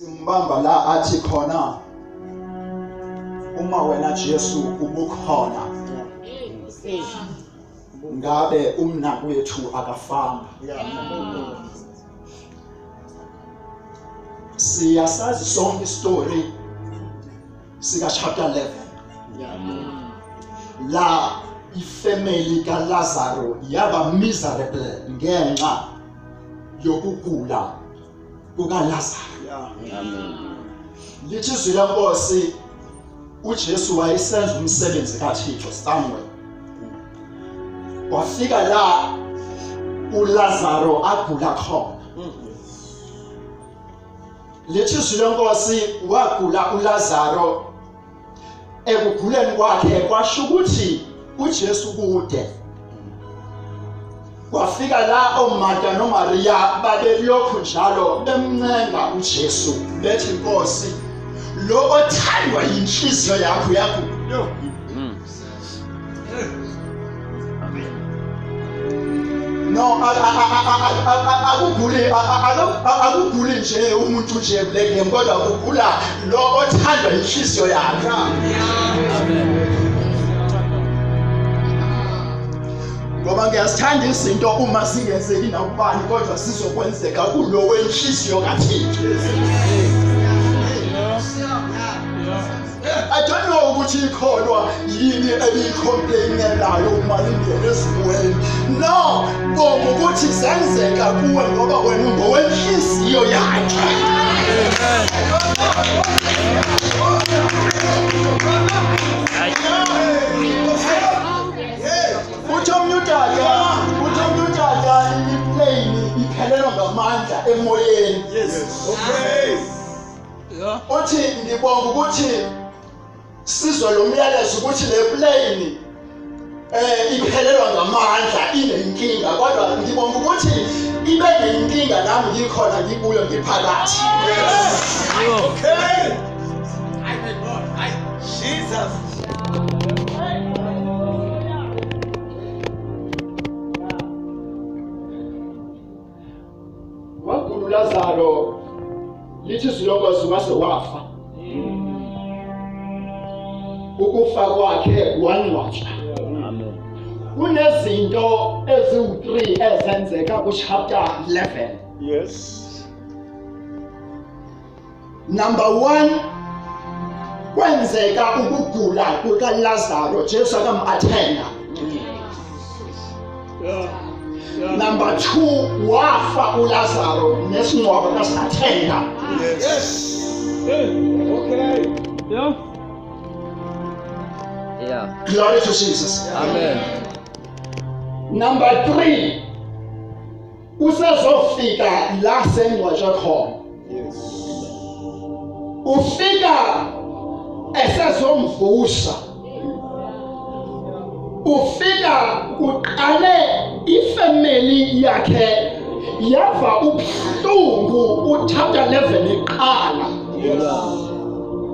umbamba la athi khona uma wena Jesu ubukhona ngabe umnakwethu akafanga siyasazi sonke istory sika chapter 11 la ifamily ka Lazaro yaba miserable ngenxa yokugula kukaLazaru. Amen. Lithi izwi lenkosi uJesu wayesenza umsebenzi kaThixo somewhere. Wafika la uLazaru agula khona. Lithi izwi lenkosi wagula uLazaru ekuguleni kwakhe kwasho ukuthi uJesu kude kwafika la oMarta noMaria babelokhu njalo bemncenga uJesu bethi Nkosi lo othandwa yinhliziyo yakho yakho no akuguli akuguli nje umuntu nje kule game kodwa kugula lo othandwa inhliziyo yakhe ngoba ngiyazithanda izinto uma singenzeki nakubani kodwa sizokwenzeka kulo wenhliziyo kathixo I don't know ukuthi ikholwa yini eliyicomplainelayo uma lingena ezimweni no bonga ukuthi zenzeka kuwe ngoba wena ungowenhliziyo yakhe uthi omnye udada uthi omnye udada iplane iphelelwa ngamandla emoyeni yes okay uthi ngibonga ukuthi sizwe lo myalezo ukuthi le plane eh iphelelwa ngamandla inenkinga kodwa ngibonga ukuthi ibe nenkinga nami ngikhona ngibuyo ngiphakathi okay i my god i jesus wagula uLazaro lithi izilongozi wase wafa ukufa kwakhe wangcwatshwa kunezinto eziwu-3 ezenzeka kuchapter 11 yes number 1 kwenzeka ukugula kuka Lazaro Jesu akamathenga number 2 wafa uLazaro nesingcwaba kasathenga yes okay yeah yeah glory to Jesus amen number 3 usezofika la sengcwatshwe khona yes ufika esezomvusa ufika kuqale ifamily yakhe yava ubuhlungu uthatha level iqala yes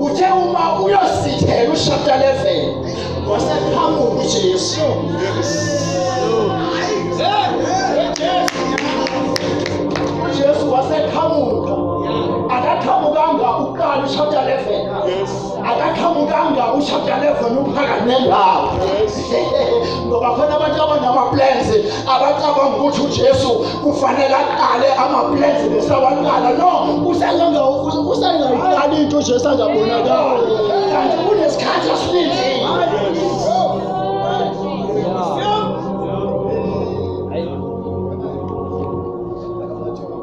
uthe uma uyosithela ushapta 11 wasephambuka uJesu uJesu waseqhamuka akaqhamukanga uqala ushapta 11 akaqhamukanga ushapta 11 uphakame lapho ngoba khona abantu abanama-plans abacabanga ukuthi uJesu kufanele aqale amaplans bese awaqala no usengenza usengayiqali into uJesu angabonakali kanti kunesikhathi esilindile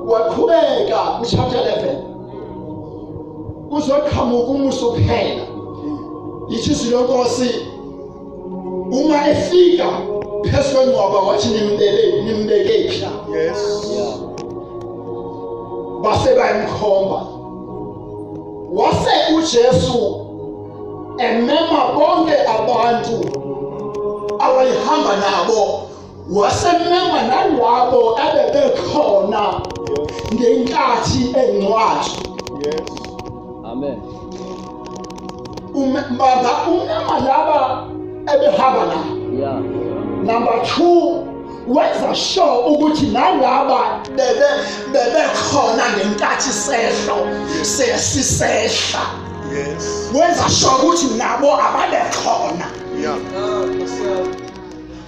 waqhubeka kuchapter 11 kuzoqhamuka umuso kuphela yithi izwi lenkosi uma efika phezu kwengcwaba wathi nimbele nimbekephi la yes base bayimkhomba wase uJesu emema bonke abantu awayihamba nabo wasemema nalabo abebekhona ngenkathi engcwatshwa yes amen umbaza umema laba ebehamba la yeah number 2 wenza sure ukuthi nalaba bebe bebekhona ngenkathi sehlo sesisehla yes wenza sure ukuthi nabo ababekhona yeah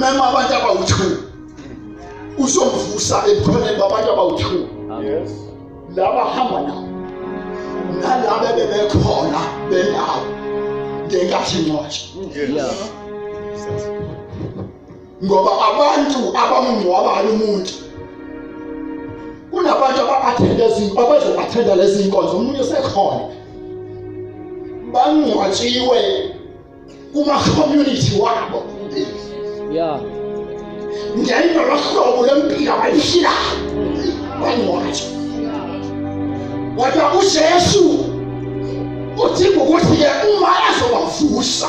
mema abantu abawu-two uzovusa ebukhoneni babantu abawu-two laba hamba nawo nalaba bebekhona benawo ngenkathi ncotsha ngoba abantu abamngcwabayo umuntu kunabantu aba-athenda ezinto abazobathenda lezi nkonzo omunye sekhona bangcwatshiwe kuma-community wabo ya ngento lohlobo lempilo abayiphilayo bangcwatshwa kodwa ujesu udinga ukuthi-ke uma ezobavusa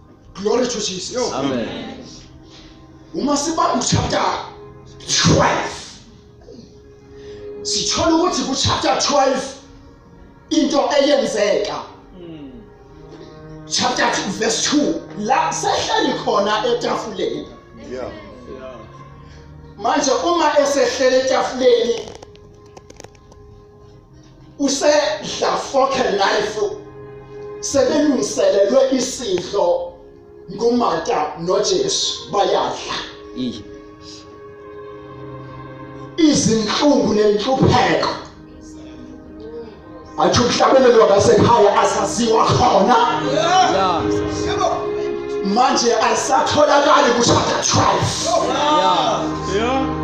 glory to jesus Yo. amen uma sibamba uchapter 12 sithola ukuthi kuchapter 12 into eyenzeka chapter 2 verse 2 la sehleli khona etafuleni yeah manje uma esehlele etafuleni usedla foke life sebelungiselelwe isidlo ngumata noJesu bayadla izinhlungu nenhlupheko athi ukuhlabelelwa ngasekhaya asaziwa khona manje alisatholakali kushada 12 yeah yeah